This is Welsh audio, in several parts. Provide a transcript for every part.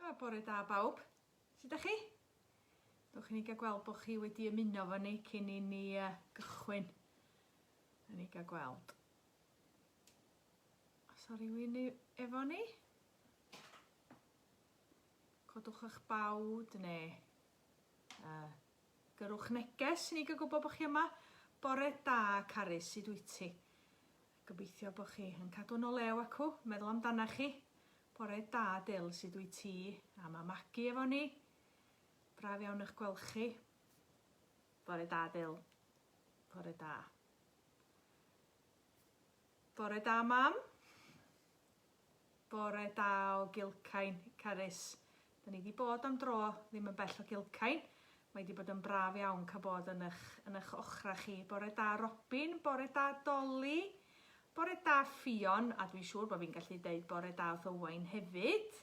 A, bore da bawb. Sut 'dach chi? Dewch i ni ga'l gweld bo' chi wedi ymuno efo ni cyn i ni yy gychwyn. Newn ni ga'l gweld. Os a rywun i- efo ni? Codwch 'ych bawd ne' yy gyrrwch neges i ni ga'l gwbo bo' chi yma. Bore da Carys, sud wyt ti? Gobeithio bo chi yn cadw'n o lew acw meddwl amdanach chi. Bore da Dyl, sud wyt ti? A ma Magi efo ni. Braf iawn ych gwelch chi. Bore da Dyl. Bore da. Bore da Mam. Bore da o Gilcain, Carys. Da ni di bod am dro, ddim yn bell o Gilcain. Mae di bod yn braf iawn cael bod yn ych, yn ych ochra chi. Bore da Robin, bore da Dolly, bore da Ffion, a dwi'n siŵr bod fi'n gallu deud bore da wrth Owain hefyd.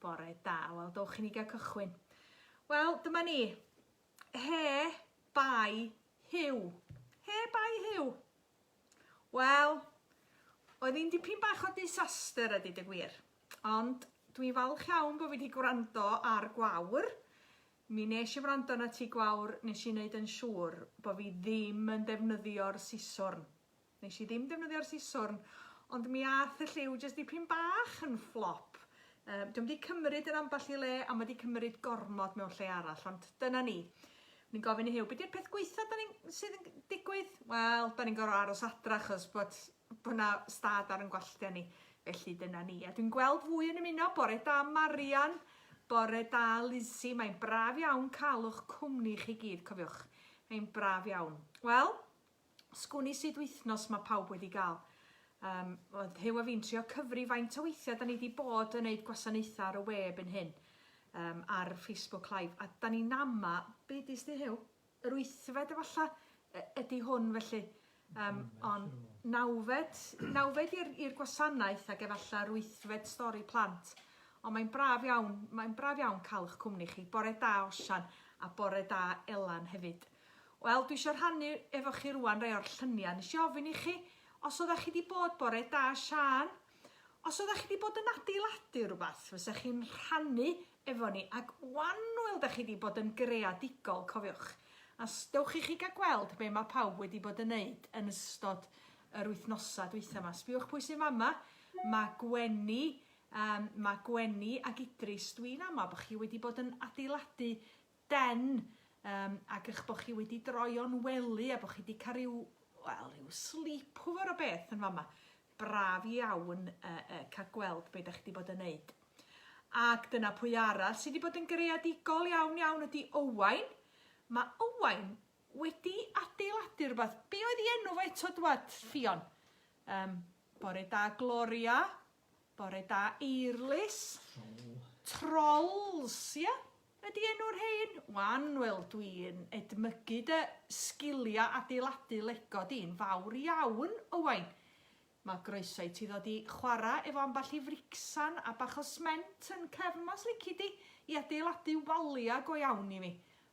Bore da, wel dowch i ni gael cychwyn. Wel, dyma ni. He, bai, hiw. He, bai, hiw. Wel, oedd hi'n dipyn bach o disaster a dyd y gwir. Ond dwi'n falch iawn bod fi wedi gwrando ar Gwawr. Mi nes i wrando na ti Gwawr, nes i wneud yn siŵr bod fi ddim yn defnyddio'r siswrn. Nes i ddim defnyddio'r siswrn, ond mi ath y lliw jyst dipyn bach yn fflop. Um, Dwi'n wedi cymryd yn ambell i le a mae wedi cymryd gormod mewn lle arall, ond dyna ni. Ni'n gofyn i Huw, be di'r peth gweitha da ni'n, sydd yn digwydd? Wel, da ni'n gorfod aros adra achos bod bod na stad ar yn gwalltia ni. Felly dyna ni. A dwi'n gweld fwy yn ymuno bore da Marian, bore da Lizzie, mae'n braf iawn cael o'ch cwmni chi gyd, cofiwch. Mae'n braf iawn. Wel, Sgwn i sut wythnos mae pawb wedi gael. Um, oedd Huw a fi'n trio cyfri faint o weithiau da ni wedi bod yn neud gwasanaethau ar y we byn hyn, um, ar Facebook Live, a da ni'n ama, be di sti Huw? Yr wythfed efallai ydy hwn felly. Um, ond nawfed, nawfed i'r gwasanaeth ac efallai yr wythfed stori plant. Ond mae'n braf iawn, mae'n braf iawn cael eich cwmni chi. Bore da Osian a bore da Elan hefyd. Wel, dwi isio rhannu efo chi rwan rai o'r llyniau. Nes i ofyn i chi os oeddech chi wedi bod bore da Sian, os oeddech chi wedi bod yn adeiladu rhywbeth, fysa chi'n rhannu efo ni, ac wan wel da chi wedi bod yn greadigol, cofiwch. A dewch i chi gael gweld be mae pawb wedi bod yn neud yn ystod yr wythnosau dweitha yma. Sbiwch pwy sy'n fama, mae Gwenny, um, mae Gwenny ac Idris, dwi'n ama bod chi wedi bod yn adeiladu den, yym, ag eich bod chi wedi droio'n wely a bod chi wedi cael rhyw, wel, rhyw sleepover o beth yn fama. Braf iawn uh, uh, cael gweld beth da chi wedi bod yn neud. Ac dyna pwy arall sydd wedi bod yn greadigol iawn iawn ydy Owain. Mae Owain wedi adeiladu rhywbeth. Be oedd ei enw fo eto dwad, Ffion? Um, bore da, Gloria. Bore da Eirlys. Trolls, ia? Ydi enw'r rhein? Wan, wel dwi'n edmygu dy sgiliau adeiladu lego di'n fawr iawn, Owain. Mae groeso i ti ddod i chwarae efo ambell i fricsan a bach o sment yn cefn mas lici di i adeiladu waliau go iawn i mi.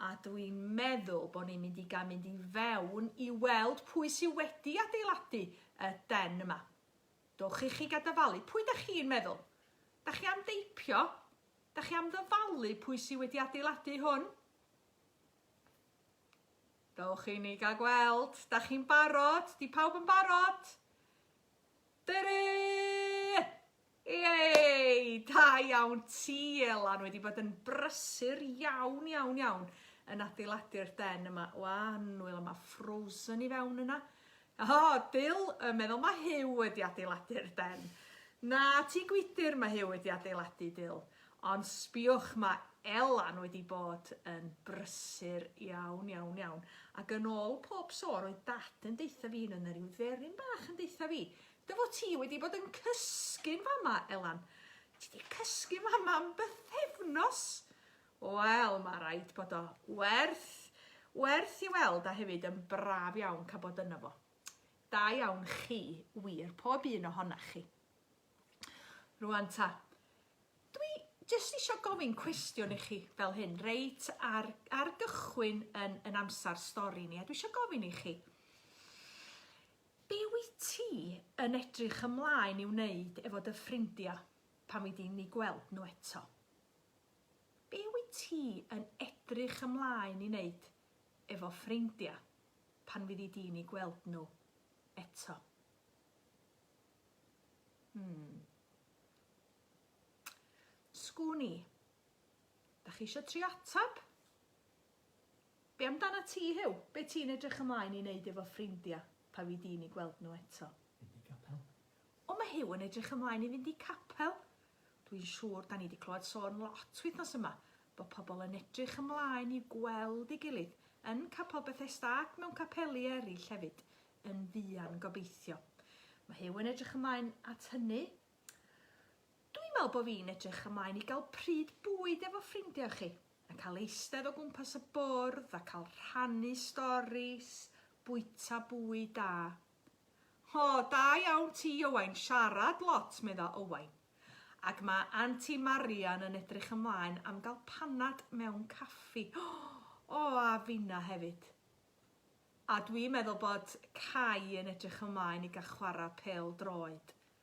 a dw i'n meddwl bod ni'n mynd i gael mynd i fewn i weld pwy sydd wedi adeiladu y den yma. Dowch i chi gadafalu. Pwy da chi'n meddwl? Da chi am deipio? Da chi am ddyfalu pwy sydd wedi adeiladu hwn? Dowch i ni gael gweld. Da chi'n barod? Di pawb yn barod? Dyri! Yay! Da iawn ti Elan, wedi bod yn brysur iawn, iawn, iawn yn adeiladu'r den yma. O, annwyl, yma frozen i fewn yna. O, oh, Bill yn meddwl mae Hugh wedi adeiladu'r den. Na, ti gwydyr mae Hugh wedi adeiladu Dill. Ond sbiwch mae Elan wedi bod yn brysur iawn, iawn, iawn. Ac yn ôl pob sôn, oedd dad yn deitha fi, yn yna rhyw dderin bach yn deitha fi, Dy fod ti wedi bod yn cysgu'n fama, Elan? Ti 'di cysgu fama am bythefnos? Wel, mae rhaid bod o werth, werth i weld a hefyd yn braf iawn cael bod yno fo. Da iawn chi, wir, pob un ohonach chi. Rwan ta, dwi jyst eisiau gofyn cwestiwn i chi fel hyn, reit ar, ar gychwyn yn, yn amser stori ni, a dwi eisiau gofyn i chi, Be wyt ti yn edrych ymlaen i wneud efo dy ffrindiau pan fy di'n eu gweld nhw eto? Be wyt ti yn edrych ymlaen i wneud efo ffrindiau pan fyddi di'n eu gweld nhw eto? Hmm. Sgwn i. Da chi eisiau trio atab? Be amdanat ti, Huw? Be ti'n edrych ymlaen i wneud efo ffrindia pan fy di'n i gweld nhw eto? Mynd i capel. O, mae Huw yn edrych ymlaen i fynd i capel! Dwi'n siŵr 'da ni 'di clywed sôn lot wythnos yma bod pobl yn edrych ymlaen i gweld ei gilydd yn Capel Bethesda ac mewn capeli eraill hefyd yn fuan gobeithio. Mae Huw yn edrych ymlaen at hynny Dwi'n meddwl bod fi'n edrych ymlaen i gael pryd bwyd efo ffrindiau chi, a cael eistedd o gwmpas y bwrdd a cael rhannu storis, bwyta bwyd da. O, da iawn ti, Owain, siarad lot, medda Owain. Ac mae Anti Marian yn edrych ymlaen am gael panad mewn caffi. O, a finna hefyd. A dwi'n meddwl bod Cai yn edrych ymlaen i gael chwarae pel droed.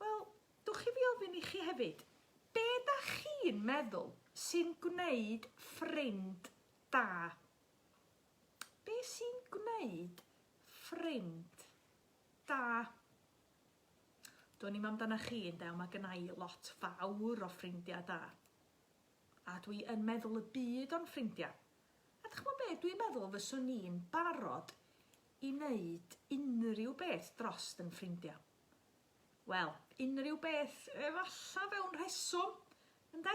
Wel, dwch i fi ofyn i chi hefyd, be da chi'n meddwl sy'n gwneud ffrind da? Be sy'n gwneud ffrind da? Do'n i'm amdana chi ynde, ond mae gynna i lot fawr o ffrindiau da. A dwi yn meddwl y byd o'n ffrindiau. A dych chi'n be, dwi'n meddwl fyswn i'n barod i wneud unrhyw beth drost yn ffrindiau. Wel, unrhyw beth efalla fewn rheswm, ynde?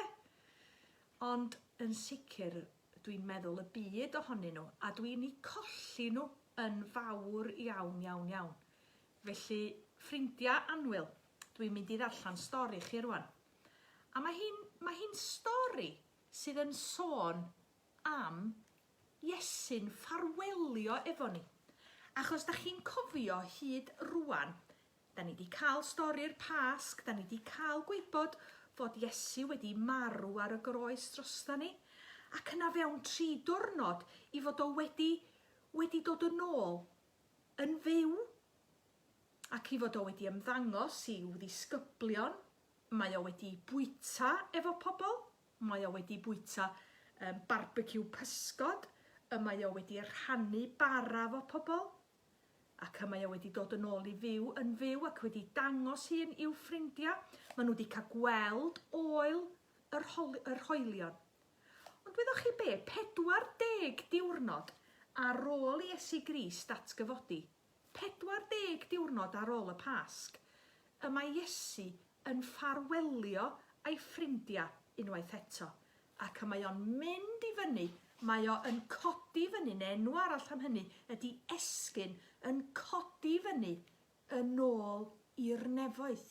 Ond yn sicr, dwi'n meddwl y byd ohonyn nhw, a dwi'n eu colli nhw yn fawr iawn, iawn, iawn. Felly, ffrindiau anwyl, dwi'n mynd i ddarllen stori chi rwan. A mae hi'n mae hi stori sydd yn sôn am Iesu'n ffarwelio efo ni. Ac os 'da chi'n cofio hyd rŵan, 'da ni 'di cael stori'r Pasg, 'da ni 'di cael gwybod fod Iesu wedi marw ar y groes drosta ni, ac yna fewn tri diwrnod i fod o wedi, wedi dod yn ôl yn fyw, ac i fod o wedi ymddangos i'w ddisgyblion, mae o wedi bwyta efo pobl. Mae o wedi bwyta yym barbeciw pysgod, y mae o wedi rhannu bara 'fo pobl, ac y mae o wedi dod yn ôl i fyw yn fyw ac wedi dangos hun i'w ffrindia. Ma' nhw 'di cael gweld ôl yr holi- yr hoelion. Ond wyddoch chi be'? 40 diwrnod ar ôl i Iesu Grist atgyfodi, 40 diwrnod ar ol y Pasg, y mae Iesu yn ffarwelio a'i ffrindia unwaith eto, ac y mae o'n mynd i fyny, mae o yn codi fyny, neu enw arall am hynny ydi esgyn, yn codi fyny yn ol i'r nefoedd,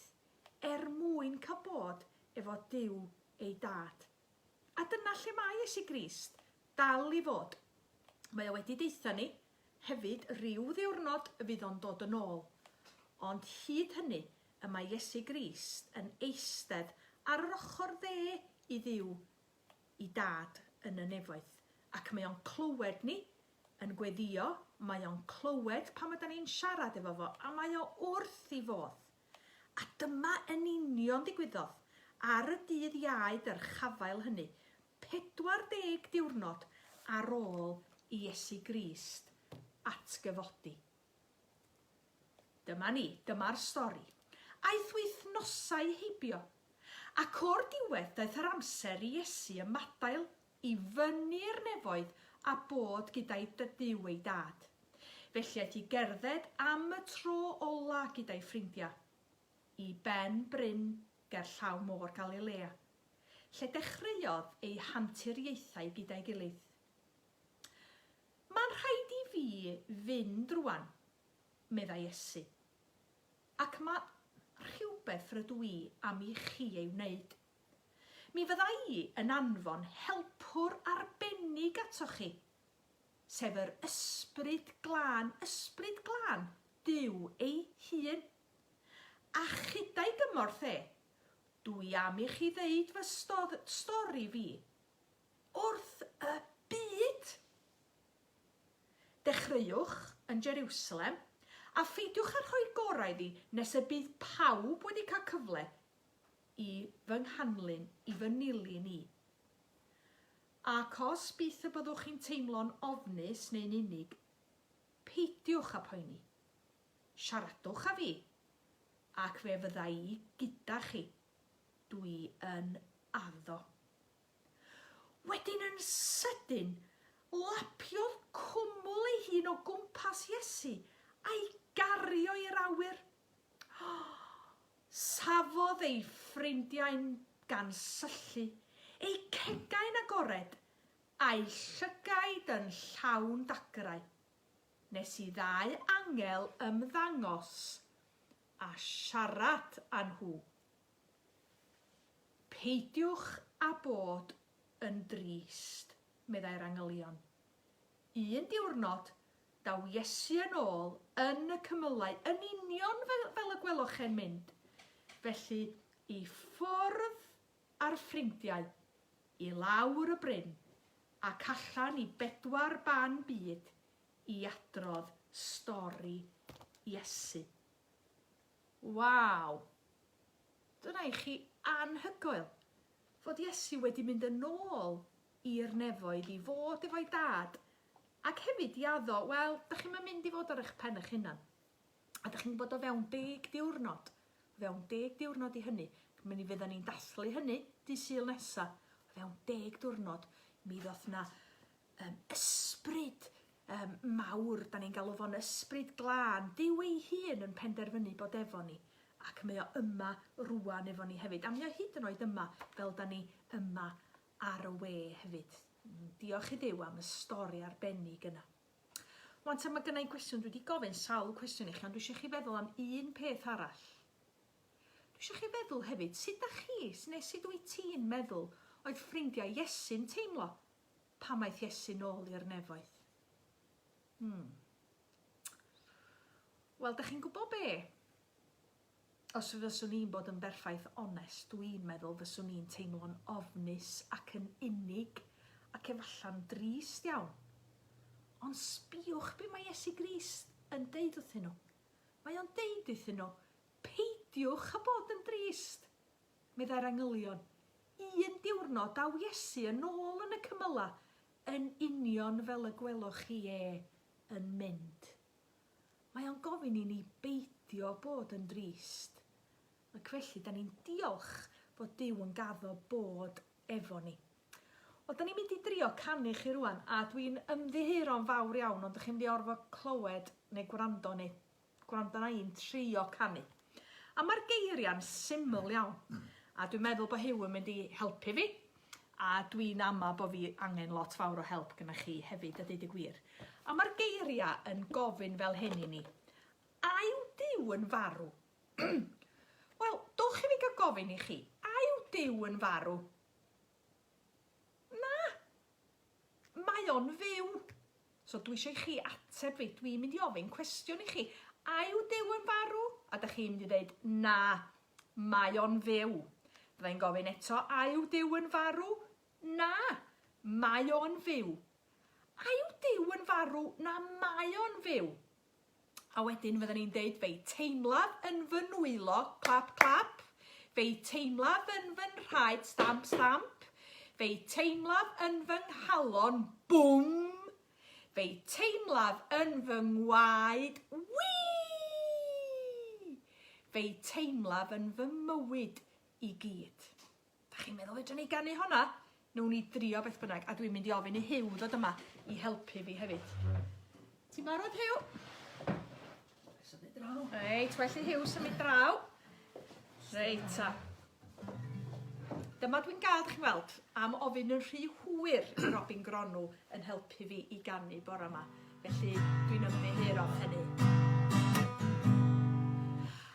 er mwyn cael bod efo Duw ei Dad. A dyna lle mae Iesu Grist dal i fod. Mae o wedi deutha ni, Hefyd, ryw ddiwrnod y bydd o'n dod yn ôl. Ond hyd hynny, y mae Iesu Grist yn eistedd ar yr ochr dde i Dduw, i Dad yn y nefoedd, ac mae o'n clywed ni yn gweddio, mae o'n clywed pam yda ni'n siarad efo fo, a mae o wrth i fodd. A dyma yn union ddigwyddodd ar y dydd Iau dyrchafael hynny, 40 diwrnod ar ôl i Iesu Grist atgyfodi. Dyma ni, dyma'r stori. Aeth wythnosau heibio, ac o'r diwedd daeth yr amser i Iesu ymadael i fyny i'r nefoedd a bod gyda'i Duw ei Dad. Felly aeth i gerdded am y tro ola' gyda'i ffrindia'. i ben bryn gerllaw Môr Galilea, lle dechreuodd eu hanturiaethau gyda'i gilydd. Mae'n rhaid i fi fynd rwan, meddai Iesu, ac mae rhywbeth rydw i am i chi ei wneud. Mi fydda i yn anfon helpwr arbennig atoch chi, sef yr Ysbryd Glân, Ysbryd Glân Duw ei hun. A chyda'i gymorth e, dw i am i chi ddeud fy stodd, stori fi. Wrth y byd! Dechreuwch yn Jerusalem, a pheidiwch â rhoi gorau iddi nes y bydd pawb wedi cael cyfle i fy nghanlyn, i fy nilyn i. Ac os byth y byddwch chi'n teimlo'n ofnus neu'n unig, peidiwch â phoeni. Siaradwch â fi, ac fe fydda i gyda chi. Dw i yn addo. Wedyn yn sydyn, lapiodd cwmwl ei hun o gwmpas Iesu a'i gario i'r awyr. Safodd ei ffrindiau'n gan syllu, eu cegau'n agored, a'i llygaid yn llawn dagrau. Nes i ddau angel ymddangos a siarad â nhw. Peidiwch â bod yn drist, meddai'r angylion. Un diwrnod, daw Iesu yn ôl yn y cymylau, yn union fel y gweloch e'n mynd. Felly, i ffwrdd a'r ffrindiau, i lawr y bryn ac allan i bedwar ban byd i adrodd stori Iesu. Waw! Dyna i chi anhygoel, fod Iesu wedi mynd yn ôl i'r nefoedd i fod efo'i Dad, ac hefyd i addo, wel, dych chi'm yn mynd i fod ar eich pen eich hunan. A dych chi'n gwybod o fewn deg diwrnod, o fewn deg diwrnod i hynny, mi fyddan ni'n dathlu hynny dydd Sul nesa, o fewn deg diwrnod, mi ddoth 'na um, ysbryd um, mawr, da ni'n galw fo'n ysbryd glân, Dyw ei hun yn penderfynu bod efo ni, ac mae o yma rwan efo ni hefyd, a mae o hyd yn oed yma fel da ni yma ar y we hefyd. Diolch i Dyw am y stori arbennig yna. Wan te mae gynnau gwestiwn, dwi wedi gofyn sawl cwestiwn i chi, ond dwi eisiau chi feddwl am un peth arall. Dwi eisiau chi feddwl hefyd, sut da chi, neu sut wyt ti'n meddwl oedd ffrindiau Iesu'n teimlo pan aeth Iesu nôl i'r nefoedd? Hmm. Wel, da chi'n gwybod be? Os fyswn i'n bod yn berffaith onest, dw i'n meddwl fyswn i'n teimlo'n ofnus ac yn unig, ac efallai'n drist iawn. Ond sbïwch be mae Iesu Grist yn deud wrthyn nhw. Mae o'n deud iddyn nhw, peidiwch â bod yn drist! Meddai'r angylion, Un diwrnod daw Iesu yn ôl yn y cymylau, yn union fel y gwelwch chi e yn mynd. Mae o'n gofyn i ni beidio bod yn drist, ac felly 'dan ni'n diolch fod Duw yn gaddo bod efo ni. Wel, 'dan ni'n mynd i drio canu chi rwan, a dwi'n ymddiheuro yn fawr iawn, ond 'dych chi'n mynd i orfod clywed neu gwrando neu gwrando arna i'n trio canu. A mae'r geiriau'n syml iawn. A dwi'n meddwl bod Huw yn mynd i helpu fi. A dwi'n ama bod fi angen lot fawr o help gyda chi hefyd a deud y gwir. A mae'r geiriau yn gofyn fel hyn i ni. A yw Dyw yn farw? Wel, dowch i fi gael gofyn i chi. A yw Dyw yn farw? Na! Mae o'n fyw. So dwi isio i chi ateb fi. Dwi'n mynd i ofyn cwestiwn i chi. A yw Duw yn farw? A dych chi'n mynd i ddeud, na, mae o'n fyw. Fydda i'n gofyn eto, a yw Duw yn farw? Na, mae o'n fyw. A yw Duw yn farw? Na, mae o'n fyw. A wedyn fydden ni'n deud fe'i teimlaf yn fy nwylo, clap clap, fe'i teimlaf yn fy nhraed, stamp stamp, fe'i teimlaf yn fy nghalon, bwm, fe'i teimlaf yn fy ngwaed, wii! Fe'i teimlaf yn fy mywyd i gyd. Dach chi'n meddwl fedrwn ni ganu honna? Newn ni drio beth bynnag, a dwi'n mynd i ofyn i Huw ddod yma i helpu fi hefyd. Ti'n barod, Huw? Symud draw. Reit, well i Huw symud draw. Reit, ta. Dyma dwi'n gael, chi'n weld, am ofyn yn rhy hwyr i Robin Gronw yn helpu fi i ganu bore yma. Felly, dwi'n ymddiheuro am hynny.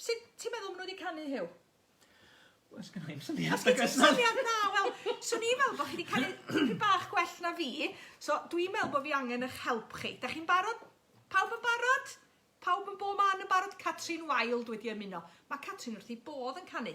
Sut ti'n meddwl maen nhw wedi canu, Huw? Wel, sgynna i'm syniad. Os gen ti syniad na, wel, swn i'n meddwl bod chi wedi canu tipyn bach gwell na fi, so dwi'n meddwl bod fi angen eich help chi. Da chi'n barod? Pawb yn barod? Pawb yn bo man yn barod? Catrin Wild wedi ymuno. Mae Catrin wrth ei bodd yn canu.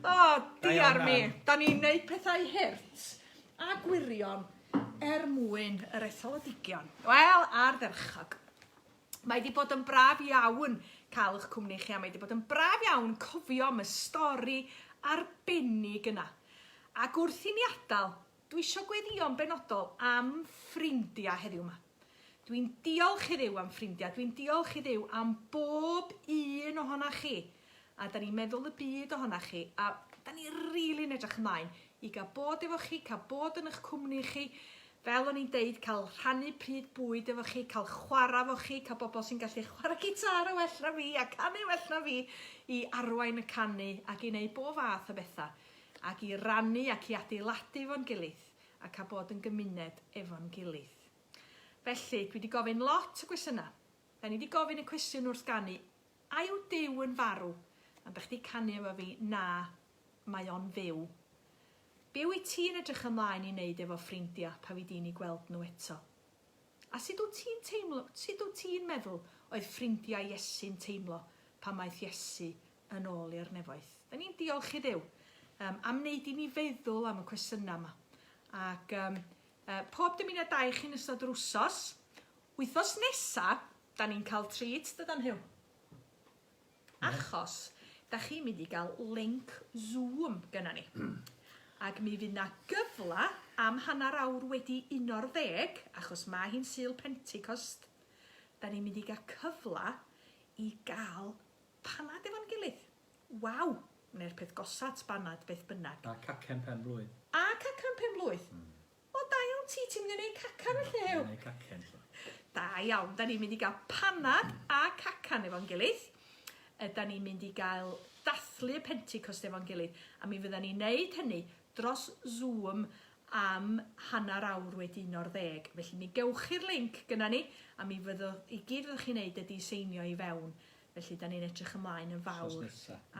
O, diar mi. Da ni'n neud pethau hurt a gwirion er mwyn yr etholedigion. Wel, ar ferchog. Mae wedi bod yn braf iawn cael eich cwmni chi a mae wedi bod yn braf iawn cofio am y stori arbennig yna. Ac wrth i ni adael, dwi eisiau gweddïo'n benodol am ffrindiau heddiw yma. Dwi'n diolch i Dduw am ffrindiau, dwi'n diolch i Dduw am bob un ohona chi, a da ni'n meddwl y byd ohona chi, a da ni rili'n really edrych ymlaen i gael bod efo chi, cael bod yn eich cwmni chi, fel o'n i'n deud, cael rhannu pryd bwyd efo chi, cael chwarae efo chi, cael bobl sy'n gallu chwarae gitar o well na fi a canu o well na fi i arwain y canu ac i wneud bob fath o bethau ac i rannu ac i adeiladu fo'n gilydd a cael bod yn gymuned efo'n gilydd. Felly, dwi 'di gofyn lot o gwestiyna. Da ni 'di gofyn y cwestiwn wrth ganu, a yw Duw yn farw? Am da chdi canu efo fi, na, mae o'n fyw. Be wyt ti'n edrych ymlaen i wneud efo ffrindia pa fi di'n i gweld nhw eto? A sut wyt ti'n teimlo, sut wyt ti'n meddwl oedd ffrindia Iesu'n teimlo pan maeth Iesu yn ôl i'r nefoedd? Da ni'n diolch i Dduw um, am wneud i ni feddwl am y cwestiyna yma. Ac um, Yy pob dymuniad da i chi yn ystod yr wsos. Wythnos nesa, 'da ni'n cael treat, dydan Huw? Achos, 'da chi'n mynd i gael link Zoom gynna ni. Ac mi fydd 'na gyfle am hanner awr wedi uno'r ddeg, achos ma' hi'n Sul Pentecost, 'da ni'n mynd i gael cyfle i gael Panad efo'n gilydd! Waw! Wneir peth gosa at banad beth bynnag. A cacen pen blwydd. A cacen pen blwydd! O da iawn ti, ti'n mynd i wneud cacan felly, Huw? Ie, wneud cacen so. Da iawn, da ni'n mynd i gael panad a cacan efo'n gilydd. Ydan ni'n mynd i gael dathlu y Pentecost efo'n gilydd, a mi fyddan ni'n neud hynny dros Zoom am hanner awr wedi un o'r ddeg. Felly mi gewch chi'r linc gynna ni, a mi fyddo, i gyd fyddwch chi'n neud ydi seinio i fewn. Felly, dan ni'n edrych ymlaen yn fawr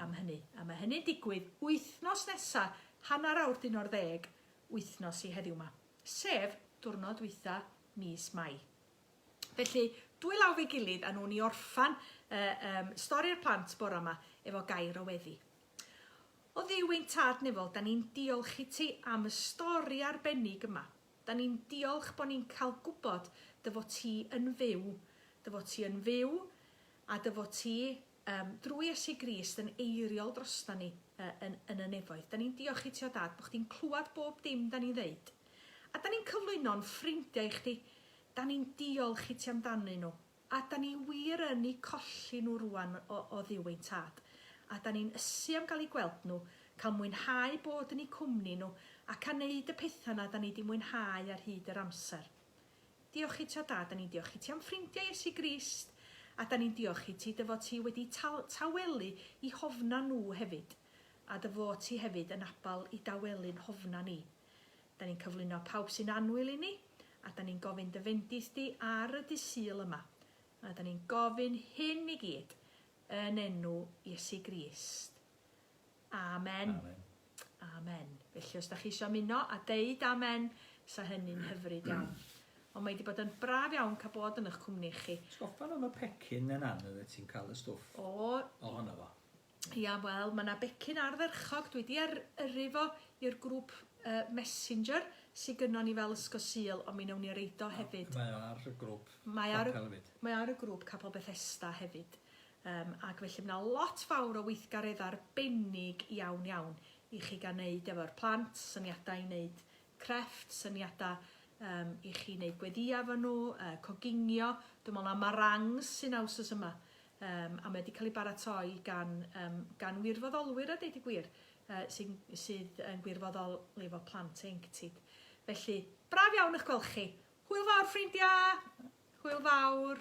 am hynny. A mae hynny'n digwydd wythnos nesa, hanner awr dyn o'r ddeg, wythnos i heddiw 'ma. Sef, diwrnod dwytha mis Mai. Felly, dwy law fe'i gilydd, a nhw'n i orffan uh, um, stori'r plant bora yma efo gair o weddi. O ddiw ein tad nefol, da ni'n diolch i ti am y stori arbennig yma. Dan ni'n diolch bo ni'n cael gwybod dy fod ti yn fyw, dy fod ti yn fyw a dy fod ti, um, drwy Iesu Grist, yn eiriol droston ni uh, yn, yn y nefoedd. Dan ni'n diolch i ti o Dad, bod chdi'n clywed bob dim dan ni'n ddeud. A dan ni'n cyflwyno'n ffrindiau i chdi, dan ni'n diolch i ti amdanyn nhw. A 'dan ni wir yn 'u colli nhw rŵan o o dduw ein Tad, a 'dan ni'n ysu am gael eu gweld nhw, cael mwynhau bod yn eu cwmni nhw, ac a wneud y pethau 'na 'dan ni 'di mwynhau ar hyd yr amser. Diolch i ti, o Dad, 'dan ni'n diolch i ti am ffrindiau Iesu Grist, a 'dan ni'n diolch i ti dy fod ti wedi tal- tawelu i hofna nhw hefyd, a dy fod ti hefyd yn abal i dawelu'n hofna ni. Da ni'n cyflwyno pawb sy'n annwyl i ni, a da ni'n gofyn dy fendith di ar y dydd Sul yma. A da ni'n gofyn hyn i gyd yn enw Iesu Grist. Amen. Amen. Amen. Felly os da chi eisiau muno a deud amen, sa hynny'n hyfryd iawn. Ond mae wedi bod yn braf iawn cael bod yn eich cwmni chi. Sgoffa am y pecyn yn anodd y ti'n cael y stwff ohono fo. Ia, wel, mae yna becyn ardderchog, dwi wedi ar yrru fo i'r grŵp yy messenger sy gynnon ni fel Ysgol Sul, ond mi newn ni a reid o hefyd. Mae o ar y grŵp Mae ar y capel efyd. Mae o ar y grŵp Capel Bethesda hefyd. Yym ac felly mae 'na lot fawr o weithgaredda arbennig iawn iawn i chi gael neud efo'r plant, syniadau i neud crefft, syniadau yym i chi neud gweddïau efo nhw, yy coginio, dwi'n meddwl 'na marangs sy'n 'na wsos yma. Yym, a mae o 'di cael ei baratoi gan yym gan wirfoddolwyr a deud y gwir, yy sy'n sydd yn gwirfoddol efo Plant Ieuenctid. Felly, braf iawn 'ych gweld chi! Hwyl fawr ffrindia! Hwyl fawr!